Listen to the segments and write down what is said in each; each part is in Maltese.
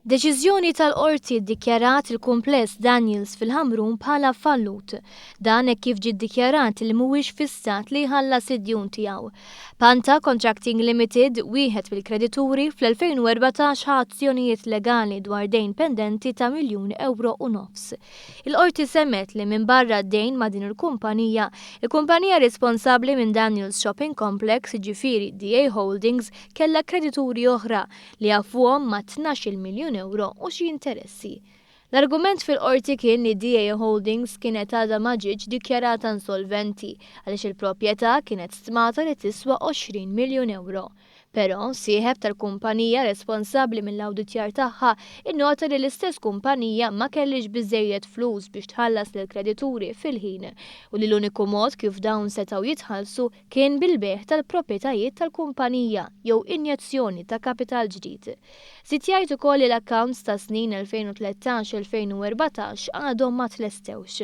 Deċiżjoni tal-Qorti ddikjarat il-Kumpless Daniels fil-Ħamrun bħala fallut. Dan hekk kif ġie ddikjarat li mhuwiex fis-stat li jħallas id-djun tiegħu. Panta Contracting Limited, wieħed mill-kredituri, fl-2014 ħa azzjonijiet legali dwar dejn pendenti ta' miljun ewro u nofs. Il-Qorti semgħet li minbarra d-dejn ma' din il-kumpanija, il-kumpanija responsabbli minn Daniels Shopping Complex, jiġifieri DA Holdings, kellha kredituri oħra, li jaffuhom ma' tnax-il miljun ewro u xi interessi. L-argument fil-Qorti kien li DA Holdings kienet għadha ma ġietx dikjarata insolventi għaliex il-proprjetà kienet stmata li tiswa għoxrin miljun ewro. Però, sieħeb tal-kumpanija responsabbli mill-awditjar tagħha innota li l-istess kumpanija ma kellhiex biżżejjed flus biex tħallas lill-kredituri fil-ħin u li l-uniku mod kif dawn setgħu jitħallsu kien bil-bejgħ tal-proprjetajiet tal-kumpanija jew injezzjoni ta' kapital ġdid. Żied jgħid ukoll li l-accounts tas-snin 2013-2014 għadhom ma tlestewx.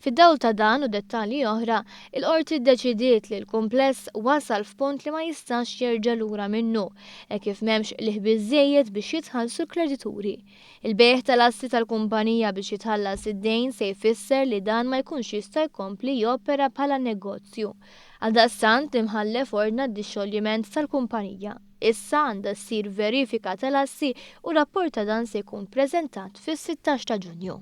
Fid-dawl ta' dan u dettalji oħra, il-Qorti ddeċidiet li l-kumpless wasal f'punt li ma jistax jerġa' lura minnu hekk kif m'hemmx qligħ biżżejjed biex jitħallsu l-kredituri. Il-bejgħ tal-assi tal-kumpanija biex jitħallas id-dejn se jfisser li dan ma jkunx jista' jkompli jopera bħala negozju. Għaldaqstant, l-Imħallef ordna d-dixxoljiment tal-kumpanija. Issa għandha ssir verifika tal-assi u rapport ta' dan se jkun preżentat fis-sittax ta' Ġunju.